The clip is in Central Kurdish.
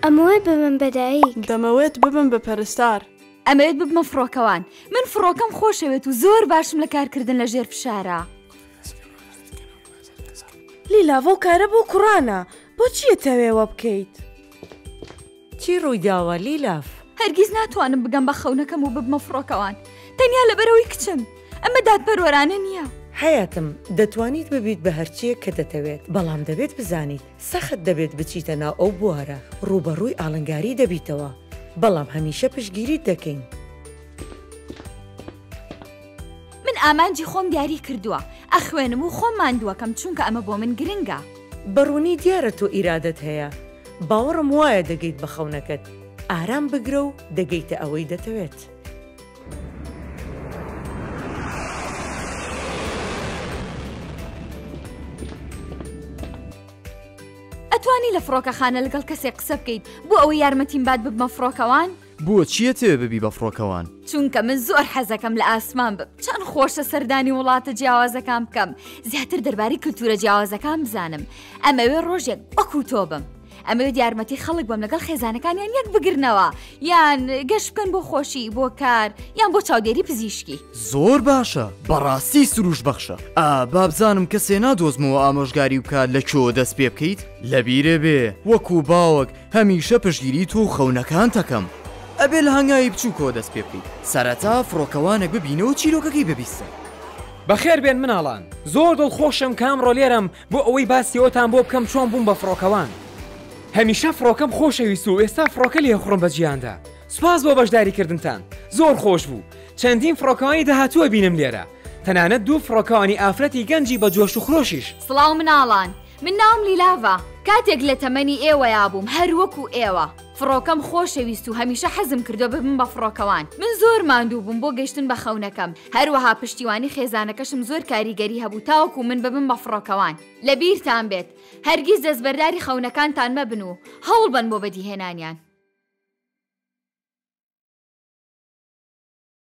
ئەمەوێت ببم بە دایک دەمەوێت ببم بە پەرستار ئەمەوێت ببمە فڕۆکەوان من فڕۆکەم خۆشەوێت و زۆر باشم لە کارکردن لە ژێر فشارە لیلاڤۆ کارە بۆ کوڕانە بۆچیە تەوێوە بکەیت؟ چی ڕوویداوە لیلاف؟ هەرگیز ناتوانم بگەم بە خەونەکەم و ببمە فڕۆکەوان تەنیا لەبەرئەوەی کچم. ئەمە دادپەروەرانە نییە. حەیاتم، دەتوانیت ببیت بە هەرچییەک کە دەتەوێت، بەڵام دەبێت بزانیت سەخت دەبێت بچیتە ناو ئەو بوارە، ڕووبەڕووی ئاڵنگاری دەبیتەوە، بەڵام هەمیشە پشتگیریت دەکەین. من ئامانجی خۆم دیاری کردووە، ئەخوێنم و خۆم ماندووەکەم چونکە ئەمە بۆ من گرنگە. بەڕوونی دیارە تۆ ئیرادەت هەیە، باوەڕم وایە دەگەیت بە خەونەکەت، ئارام بگرە و دەگەیتە ئەوەی دەتەوێت. ئەتوانی لە فڕۆکەخانە لەگەڵ کەسێک قسە بکەیت بۆ ئەوەی یارمەتیم بات ببمە فڕۆکەوان؟ بۆ چیە تەوێ ببی بە فڕۆکەوان؟ چونکە من زۆر حەزەکەم لە ئاسمان بم چەند خۆشە سەردانی وڵاتە جیاوازەکان بکەم زیاتر دەربارەی کللتورە جیاوازەکان بزانم ئەمەوێ ڕۆژێک وەکو تۆ بم. ئەمەوێت یارمەتی خەڵک بم لەگەڵ خێزانەکانیان یەک بگرنەوە یان گەش بکەن بۆ خۆشی بۆ کار یان بۆ چاودێری پزیشکی زۆر باشە بەڕاستی سروش بەخشە ئا بابزانم کە سێنا دۆزمەوە ئامۆژگاری بکات لە کۆ دەست پێ بکەیت لەبیرێ بێ وەکو باوەک هەمیشە پشگیری تۆ و خەونەکانتەکەم. ئەبێ لە هەنگاوی بچووکەوە دەست پێ بکەی. سەرەتا فڕۆکەوانێک ببینە و چیرۆکەکەی ببیستە. بەخێربێن مناڵان. زۆر دڵخۆشم کە ئەمڕۆ لێرەم بۆ ئەوەی باسی ئەوتان بۆ بکەم چۆن بووم بە فڕۆکەوان. هەمیشە فڕۆکەم خۆشەویست و ئێستا فڕۆکە لێخوڕم بە جیهاندا. سوپاس بۆ بەشداریکردنتان. زۆر خۆش بوو. چەندین فڕۆکەوانی داهاتوو ئەبینم لێرە. تەنانەت دوو فڕۆکەوانی ئافرەتی گەنجی بە جۆش و خرۆشیش. سڵاو مناڵان. من ناوم لیلاڤە کاتێک لە تەمەنی ئێوەیا بووم هەر وەکو ئێوە فڕۆکەم خۆشەویست و هەمیشە حەزم کردوە ببم بە فڕۆکەوان من زۆر ماندوو بووم بۆ گەشتن بە خەونەکەم هەروەها پشتیوانی خێزانەکەشم زۆر کاریگەری هەبوو تاوەکو من ببم بە فڕۆکەوان لە بیرتان بێت هەرگیز دەستبەرداری خەونەکانتان مەبن و هەوڵبەن بۆ بەدیهێنانیان.